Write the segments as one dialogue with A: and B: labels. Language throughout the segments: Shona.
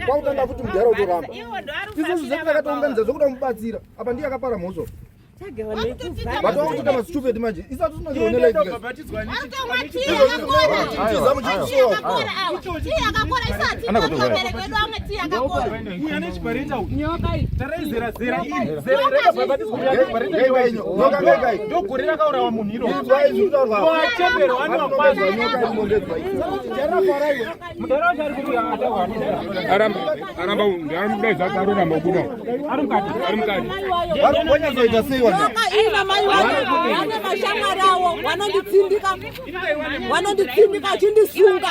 A: kwautanga futi mudhara utoramba isu zvizetu takatounganidza zvekuda kumubatsira apa ndiye akapara mhosva vatokutoita mastupid manje isu hatisinaogore rakaurawa
B: munhu irooacheberwa anoakwazva vanonditsindika achindisunga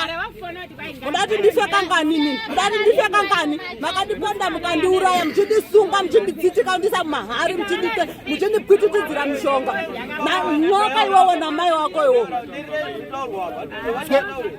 B: mudati ndife kanganini mudati ndife kangani makandipanda mukandiuraya muchindisunga muchinditsitika ndisa mumahari muchindipwititidzira mushonga nyoka iwowo namai wako iwo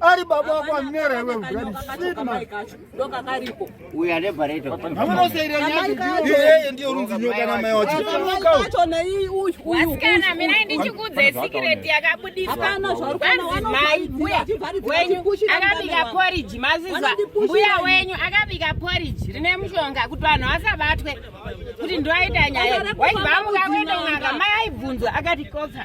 A: ari baba wako amera iwe ndokakaripo
C: uyu ane bhareto hamunoseiranyaiye
A: ndiyo runzi nyoka namai wachoacho nei uyuasikana
D: mina ndichikudze sikireti yakabudiswaakabika poriji mazizwa mbuya wenyu akabika poriji rine mushonga kuti vanhu vasabatwe kuti ndoaita nyaya waibva amuka kuenda kunaka mai aibvunzwa akati koka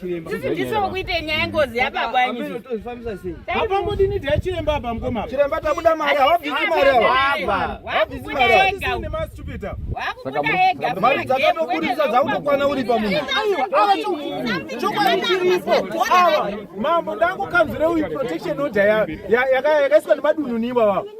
D: Sisi ndisi vokuita nyaya ngozi yapabwanyizvapamodini
E: dai chiremba apa mukoma chiremba tabuda mari
A: hawabvisi mari awakubuda
D: ega mari dzakatokurisa
A: dzakutokwana uri pamunhu
E: chokwadi chiripo awa mambo ndangokanzwira uyu protection order yakaiswa nemadunhuni ivava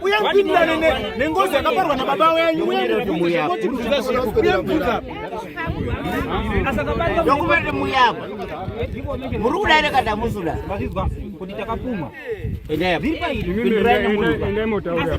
E: uye mpindane nengozi yakaparwa nababa wenyu dokuvaende
C: muyapa muri kudaire kada musuda kuti
E: takapumwa endai mutaure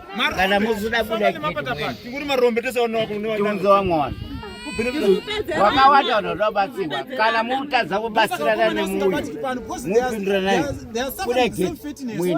C: kana musuda kuda tikuri marombe tese
E: tiunzewa mwana
C: wakawanda vanhu vanobatsirwa kana mutadza kubatsirana nemuyu mupinduranai kuda geti mwini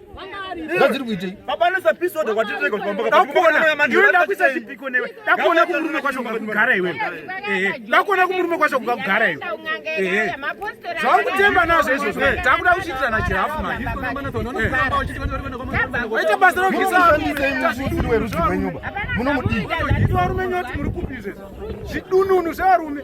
A: zvadziri kuitei baba anoisa pisoda
E: kwatitirega kuti pamba kapakuona kuisa chipiko newe dakuona kumurume kwacho kugara iwe dakuona kumurume kwacho kugara iwe zvauri kutemba nazvo izvozvo takuda kuchiitirana chirafu maita basa rokuisaaiweruziwenyumba
A: munomudii varume nyoti
E: muri kupi izvezvo zvidununu zvevarume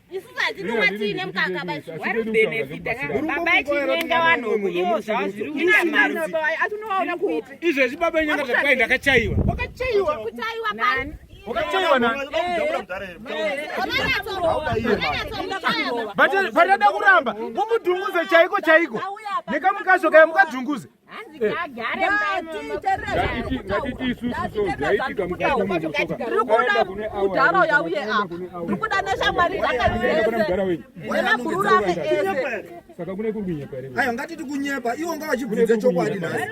D: isusu hatinonga tiine mukaka babachirenga vanhu ivo zvava zviri kuita mari atinovaona kupi izvezvi baba nyanga
E: zvakwai ndakachaiwa
D: wakachaiwa
E: kutaiwa nani patada kuramba mumudhunguze chaiko chaiko nekamukazvo kaya mukadhunguze
F: kudhara uya uye apo
B: ndikuda neshamwari dzakaeaururame ese saka kune kunyepa
F: here ayo ngatiti kunyepa
A: iwo ngavachibvunze chokwadi nhasi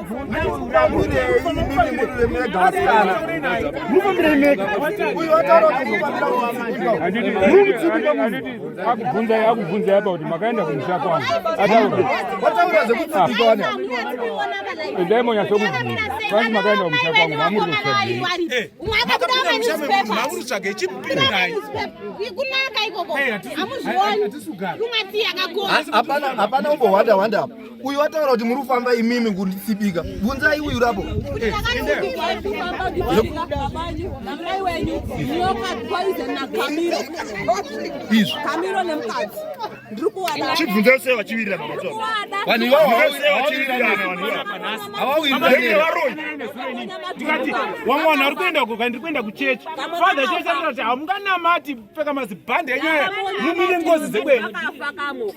F: akubvunzai akubvunzai apa kuti makaenda kumusha kwangu endai monyasokubvunza kwanzi makaenda kumusha kwangu mamuri
E: kutsvageihapana
D: umbohwanda
A: hwanda apa Uyu wataura kuti muri kufamba imimi kunditsibika. Bvunzai uyu rapo. Izvi. Kamiro nemukadzi. Ndiri
G: kuwada. Chibvunza sei vachivirira baba Tsoro? Vanhu
A: ivavo vachivirira
E: ndikati wamwe vanhu vari kuenda kuka ndiri kuenda kuchechi father chese kuti hamunganamati pfeka mazibhande enyaya mumire ngozi dzekwenyu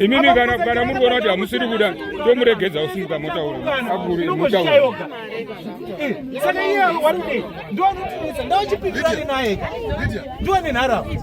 F: imimi kana kana muri kuona kuti hamusiri kuda tomuregedza usimuka motaura akuri motaura
E: saka iye warudei ndonitisa ndochipikirani naye ndiwe nenharaunda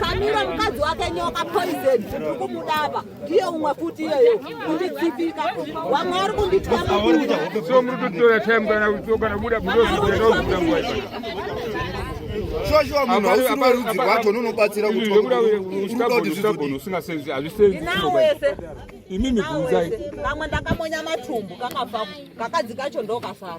B: Kamiro mukadzi wake nyoka poison ukumudaba ndiye umwe futi iyeyo kunditsipika wamwe ari kunditya mubuda so muri kutora
F: time kana kutsoka kana kubuda budozokuda nguva shoshowa
A: munhu hausiri werudzi rwacho unonobatsira kutiusingasenzi
F: hazvisenzi
B: imimi
F: bvunzai kamwe ndakamonya
B: matumbu kakabva kakadzi kacho ndokasara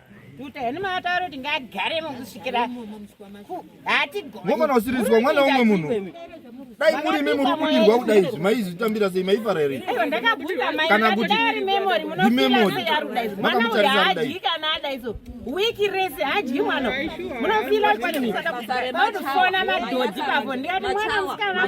D: Tuta yani mataro tingagare mukusvikira hatigomana usirizwa
A: mwana umwe munhu dai muri imi muri kudirwa kudai izvi maizvitambira sei maifara here kana
D: kuti imemori makamutarisa kudai wiki rese hadyi mwana munofila kwanimautoona madhodhi pavo ndikati mwana musikana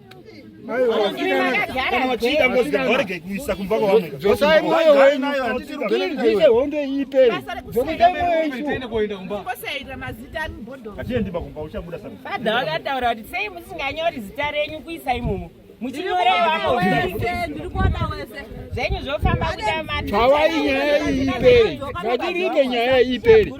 G: dzosai mwoyo wenyu
A: tiite hondo
G: iiperi dzokuita mwoyo ichofadha vakataura kuti
D: sei musinganyori zita renyu kuisa imomo muchinyorevazvenyu
F: zvofamba kuda matawai
D: nyaya
F: iiperi ngatiriite
D: nyaya
F: iiperi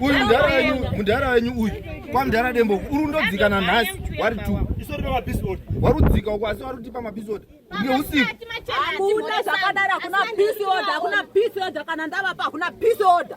A: uyu mudhara wenyu uyu kwamudhara dembo uri undodzikana nhasi wari t
G: wari udzika uko asi
A: wari utipa mapisod nge usiku hakuna
B: zvakadari hakuna pisod hakuna pisod kana ndavapa hakuna pisod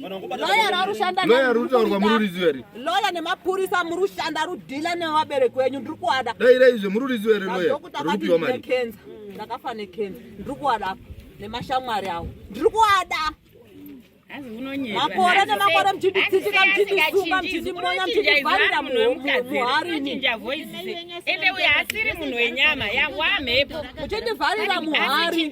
B: Loya rarushanda Loya rutaurwa muri rudziwa
A: here? Loya nemapurisa
B: muri kushanda rudhila nevabereki venyu ndiri kuada. Dai dai izvo muri rudziwa
A: here loya? Rupiwa mari. Kenza. Ndakafa
B: nekenza. Ndiri kuada apa nemashamwari awo. Ndiri kuada. makore nemakore mchinditsitsika mchindisunga mchindimonya mchindivharira muharini
D: ende uyo asiri munhu wenyama yawamhepo muchindivharira
B: muhari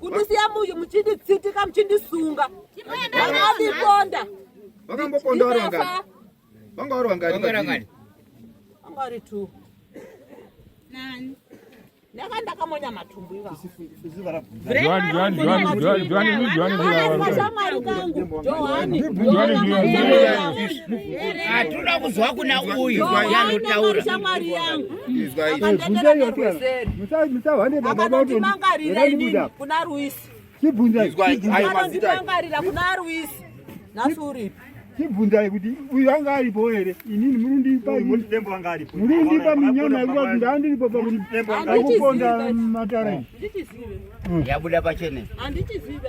F: kundisiya
B: muyu muchinditsitika muchindisunga vakadiponda
A: vakamboponda vari vangani vanga vari vangani
B: vanga vari two nani ndanga ndakamonya matumbu ivavashamwari kangu
C: johaniatinoda kuzwa kuna uyu yanotaura shamwari yangu
B: akandimangarira inini kuna
E: ruisi akandimangarira kuna
B: ruisi nhasi uripi chibvunzai
E: kuti uyu anga aripo here inini murindipa minyama yekuti ndaandiripo pakuponda matare
C: yabuda pachene handichizive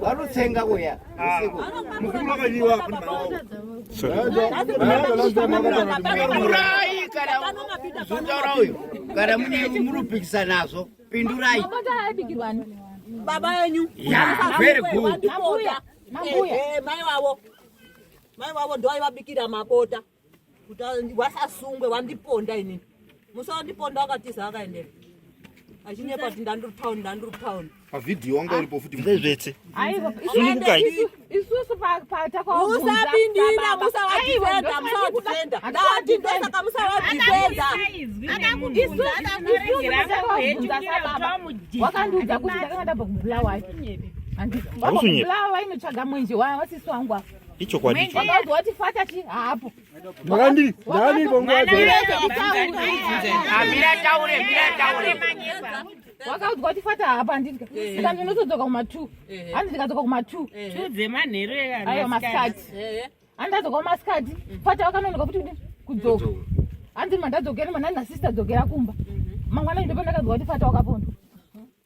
C: vanotsenga kuya pindurai kana zotaura uyo kana mune murupikisa nazvo pindurai baba
B: enyu very good
C: mai wavo
B: mai wavo ndoaivabikira mabota kuti wasasungwe wandiponda inini musi wandiponda wakatiza wakaendera achinyepa kuti ndandiri town ndandiri town pavhidhiyo wanga
A: uripo futi ndezvese
G: sunungukai
D: isusu patakausaindira
B: musawadifenda musawadifenda ndati ndosaka musawadifenda
D: wakandiudza kuti ndakanga ndabva kubulawayo andibulawayo inotsvaga mwenje wasisi wangu afa ichokwadi icho
G: wati fata
D: chi hapo ndakandi ndakandi bongo wacho amira taure mira taure wakaudzwa kuti fata hapo andidya saka ndinotodzoka kuma 2 handi ndikadzoka kuma 2 2 dzemanheru ayo masikati handi ndadzoka kumasikati fata wakanonoka kuti kudzoka handi mandadzokera manani nasister dzokera kumba mangwana ndopandakadzoka kuti fata wakapondo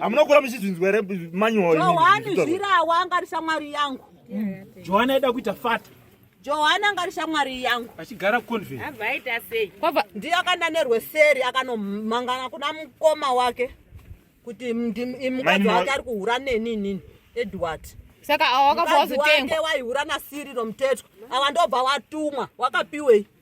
G: hamunokura muchizvinzwa here manyoani zvirawa
B: angari shamwari yangu johani aida
E: kuita fata johani angari
B: shamwari yangu achigara kuconvenavaita
E: sei kwava
D: ndiye akanda
B: nerweseri akanomangana kuna mukoma wake kuti mukadzi wake ari kuhura neni inini edward saka awakabva
D: wazotengwa waihura nasiriro
B: mutetwa awa ndobva watumwa wakapiwei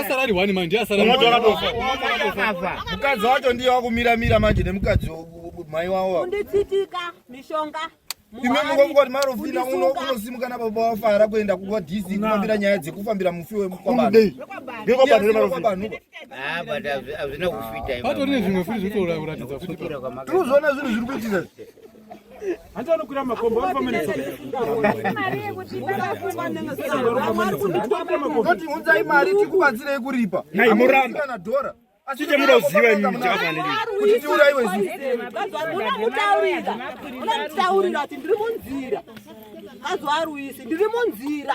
H: asarari wani manje asarariakafa mukadzi
A: wacho ndiye wakumira mira manje nemukadzi mai wavo unditsitika
B: mishonga ime
A: mukokoti marofina unosimuka nababa wafara kuenda kuva dc kufambira nyaya dzekufambira mufi wemukwabanhuazvina
G: kufita
C: patori nezvimwe futi zvitoratidza
H: tinozoona zvinhu zviri
A: kuitika
E: Antanokwira makomba ari pamene saka.
A: Kuti unzai mari tikubatsire kuripa. Nai muramba. Kana
G: dora.
A: Chite muda uziva
G: imi mchaka nini. Kuti tiura iwe
A: zi. Una mutaurira.
B: Una mutaurira ati ndiri munzira. Azwa ruisi ndiri munzira.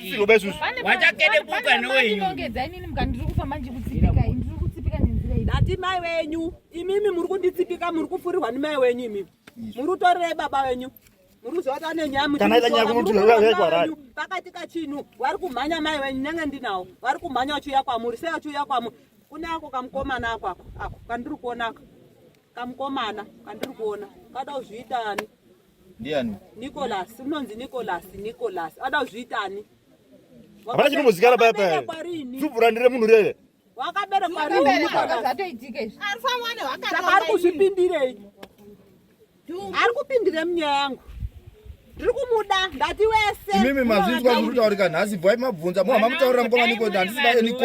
G: Siroba isusu. Wachakede buka nowenyu.
C: Ndinongedza inini mukati ndiri kufamba ndikutsipika
B: ini ndiri kutsipika nenzira iyi. Ndati mai wenyu imimi muri kunditsipika muri kufurirwa nemai wenyu imimi. Muri kutorerei baba wenyu. Muri kuzota nenyamu. Kana ita nyaya kumuti
G: wekwara. Pakati kachinu
B: wari kumhanya mai wenyu nenge ndinawo. Wari kumhanya uchiuya kwamuri sei uchiuya kwamuri. Kune ako kamukomana ako ako kandiri kuona ako. Kamukomana kandiri kuona. Kada kuzviita ani? ndiani
A: Nicholas
B: unonzi Nicholas Nicholas ada kuzviitani hapana
G: chinombozikana paya paya Wakaberekwa rini? dzubvura ndire munhu rere wakaberekwa rini
B: Wakaberekwa. Nicholas zvatoitika izvi Arifamwana saka ari wakatonga ini. kuzvipindirei Dhumbu. ari kupindire munyaya yangu ndiri kumuda ndati wese imimi mazvinzwa zviri
A: kutaurika nhasi bvai mabvunza muhama mutaurira mukoma niko handisi vaye niko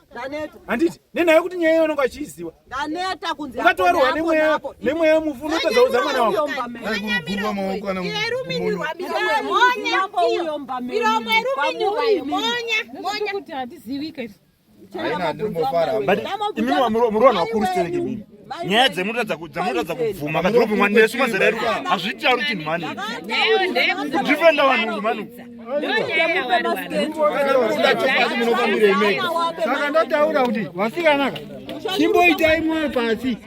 E: ndaneta handiti nenhaya yekuti nyaya iyo unenge achiiziva ndaneta kunzi
B: ukatowarwa nemweya
E: nemweya mufu unotozaudza mwana wako aigurugurwa maoko kana
G: kuti hatizivika isu imimi wamurwa nwakurustereke mimi nyaya dzemutadza dzamutadza kubvuma kadhirobhi mwana nesu mazera edu hazvitauri chinhu mani kudifenda vanhu mani
F: saka ndataura kuti vasikanaka chimboitai mwoyo pasi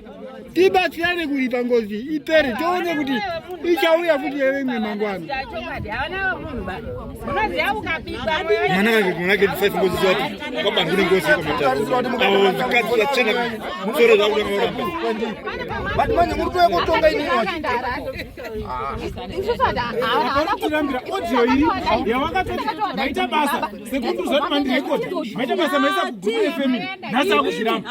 F: tibatsirane kuripa ngozi ipere tione kuti ichauya futi yeveimwe mangwana
G: manake manake ndisaisi ngozi zvapo kwabani kune ngozi yekwamataavakadzi vachena musoro zvavo vakaoramba but
A: manje muri toya kotonga ini
E: tirambira audio iri yavakatoti maita basa sekundu zvati mandirekodi maita basa maisa kuguru efamily nhasi akuzviramba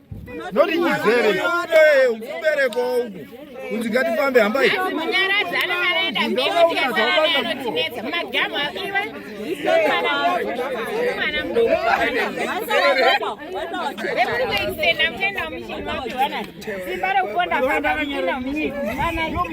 G: noti nyizere mubereko
A: uku kunzi ngatifambe hambai simba
D: rekuponda famba kuenda munyika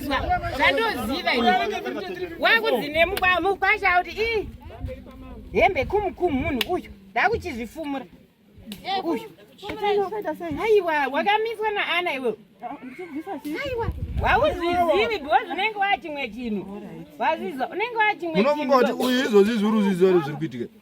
D: zvandoziva ini wakudzine mukwasha kuti ii hembe kumukumu munhu uyu ndakuchizvifumura uyu aiwa wakamiswa naana iwewe aiwa wauzvizivi because unenge wachimwe chinhu wazvizwa unenge wachimwe chinhu unofunga kuti uyu izvozvi
A: zviri uzvizwa zviri kuitika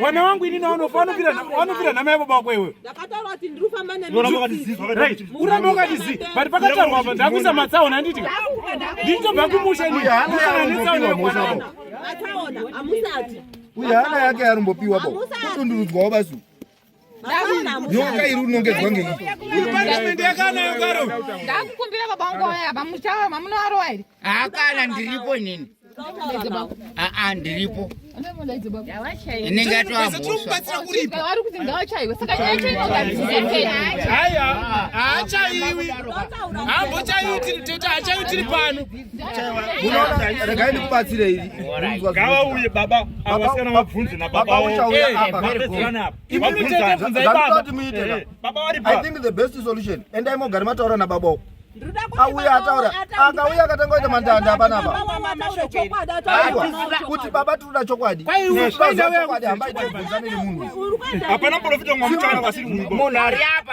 E: Mwana wangu ini naona ufano vira naona vira na maibo bako iwe. Ndakataura kuti ndiri kufamba
B: nani. Urambe ukatiziva wakati. Right.
E: Urambe ukatiziva. But pakataurwa apa ndakuisa matsaona handiti. Ndito bakumusha ini. Kana nitsaona mwana wangu.
B: Matsaona amusati. Uya hana
A: yake yarumbopiwa bo. Kutundurudzwa wabasu. nyoka iri unongedzwa ngeiiparliament
E: yakanayo karo ndakukumbira baba
D: wangu waya bamuchava mamunoarowa here haakana ndiripo
C: nini aa ndiripo inenge yatoamhosvakubatsira kuripo vari kuti
D: ngawachaiwe saka nyaya chainogaaiwa
E: haachaiwi hambochaiwi tiri pano
A: regai ndikubatsire iri ngavauye
G: baba avasikana vabvunze nababa uchauya
A: eh, apa zvandinoti muite eh, eh, i think the best solution endai mogari mataura nababa uko auya ataura akauya akatanga kuita mandanda apanapa kuti baba tinoda chokwadi chokwadi hambaitobvunzaniri munhu hapana profita
G: mwamuchana vasiri munhu ari apa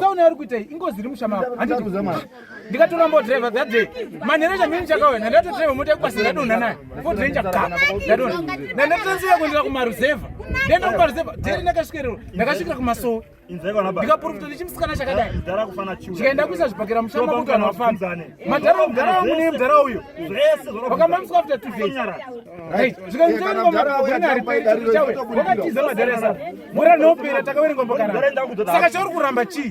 E: saona ari kuita ingozi iri mushama ndikatora mbodriver that day manhereja mini chakawena ndatodriver mota yekubasa ndadonha naye fodrenja kama ndadonha ndandatransiya kuendera kumaruzevha ndaenda kumaruzevha deri ndakasvikererwa ndakasvikira kumasowe ndikaprofita nechimusikana chakadai chikaenda kuisa zvibhakera mushamba kuti vanhu vafambe madhara mudhara wangu neye mudhara uyo vakamamiswa after two days zvikanzvakatiza madhara esa mura nopera takaverenga mbokarasaka chauri kuramba chii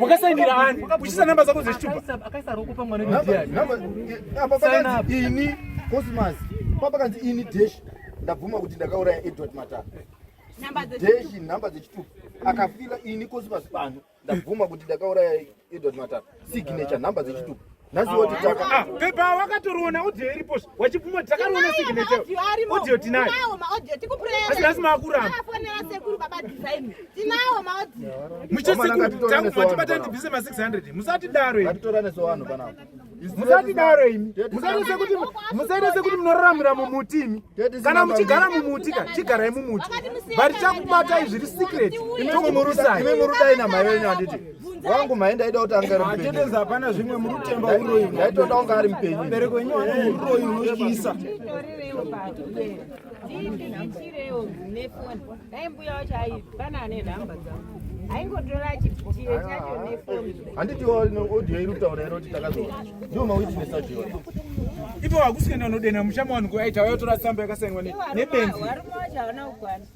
E: wakasainira ani uchisa
A: namba zako zechitupa ini cosmas papakanzi ini desh ndabvuma kuti ndakauraya edward matara desh nhamba dzechitupa akafila ini cosmas pano ndabvuma kuti ndakauraya edward matara signature nhamba dzechitupa Ah, pepa wakatoriona
E: audio iripo wachibvuma takariona signature audio tinayo asi nhasi maakuramba muche sekuru tangu matibata ndibvise ma 600 musati daro imi musati daro imi musaite sekuti munoraramira mumuti imi kana muchigara mumuti ka chigarai mumuti but takubatai zviri secret tokumurusai
A: wangu mai ndaida kuti anga arimupenyu hapana zvimwe
F: muri kutemba uroyi ndaitoda kunga ari mupenyu
A: bereko wenyu wana
F: uroyi unotyisa
D: handiti audio
A: iri kutaura iro kuti takazoona ndiwo mawitness acho iwayo ipo
E: wakusikaenda unodena muchama wanhu kuaita wayotora tsamba yakasainwa nebenzi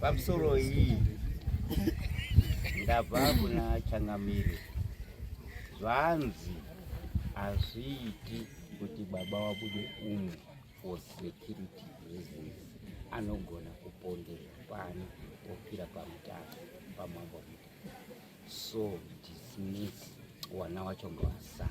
B: pamusoro iyi
C: ndabva kuna changamire zvanzi hazviiti kuti baba wabude umu for security reasons anogona kupondera pano ofira pamutasa pamambo so dismiss wana wacho ngowasara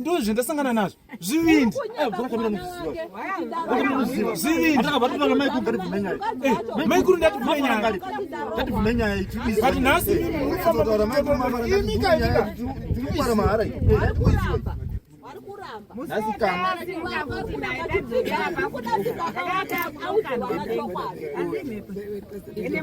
E: ndoo zvendasangana nazvo zvivindi maikuru
A: ndativumenyayati
E: nhasi
A: imi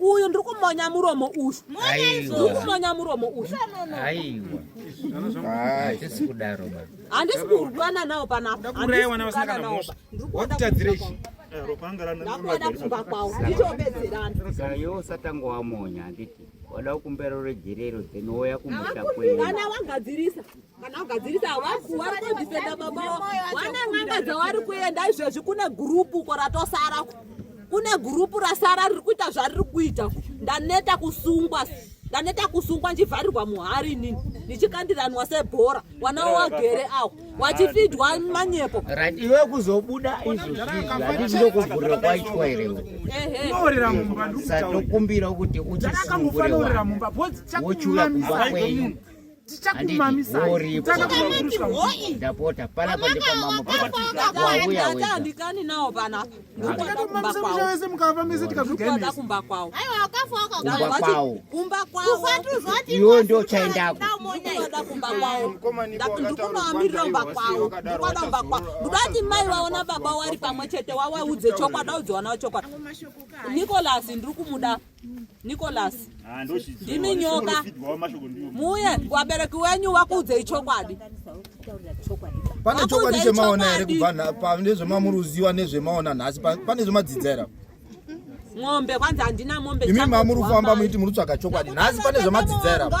B: uyu ndiri kumonya muromo uyu ndiri kumonya muromo
C: uyu handisi kurwana
B: nawo panapandakuda kumba
E: kwawo
B: nditobedzeranausatanga
C: wamonya handiti wada kumbera rejerero dzenouya kumusha kweana wangadzirisa
B: kana kugadzirisa havakuwakodifenda baba wane n'anga dzawari kuenda izvezvi kune gurupu ko ratosara kune gurupu rasara riri kuita zvariri kuita ndaneta kusungwa ndaneta kusungwa ndichivharirwa muhari inini ndichikandiranwa sebhora wana wagere awo wachifidwa manyepo iwe kuzobuda
C: izvozvizvandizokuvhurira kwaitwa irewesadokumbira
E: kuti
C: uchisungure
E: wochiuya kumba
C: kwenyu ndapota panapa ndipamamandikani nawo panapa
B: ndikuakumbawese
E: mukava mese tikazvikuada kumba kwawo
D: kumba
C: kwawo
B: iwo ndo
C: chaendako
B: ndikunoamirira umba kwawo ndikuada umba kwawo ndikudati mai waona baba wari pamwe chete wawaudze chokwadi audziwanawo chokwadi nikolasi ndiri kumuda Nicholas ah, ndimi nyoka muye wabereki wenyu wakuudzei chokwadi
A: pane chokwadi chemaona here kubva pane zvemamuruziwa nezvemaona nhasi pane zvemadzidza here
B: mombe kwanzi handina mombe imi mamuri kufamba muiti
A: muri kutsvaga chokwadi nhasi pane zvemadzidza
B: here apa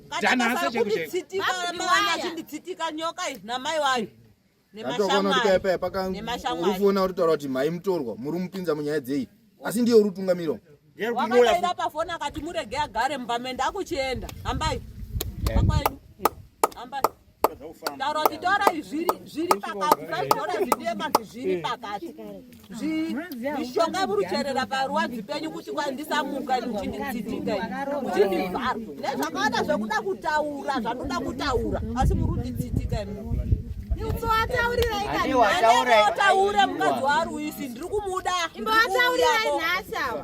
A: urifuona uritaura kuti mhai mutorwa muri mupinza munyaya dzei asi ndiye uri utungamirwa wakadaira
B: pafoni akati murege agare mumba mende akuchienda hambai eh. akwaedu hambai Taura zvitora izvi zviri pakati zvaizora zvidema zviri pakati zvishonga murucherera parwadzi penyu kuti kwandisamuka muchinditsitika muchindivhara nezvakawanda zvekuda kutaura zvandoda kutaura asi muri kunditsitika imbovatauriraitaure mukadzi waari uisi ndiri kumuda imbovataurirai
D: nhasi ava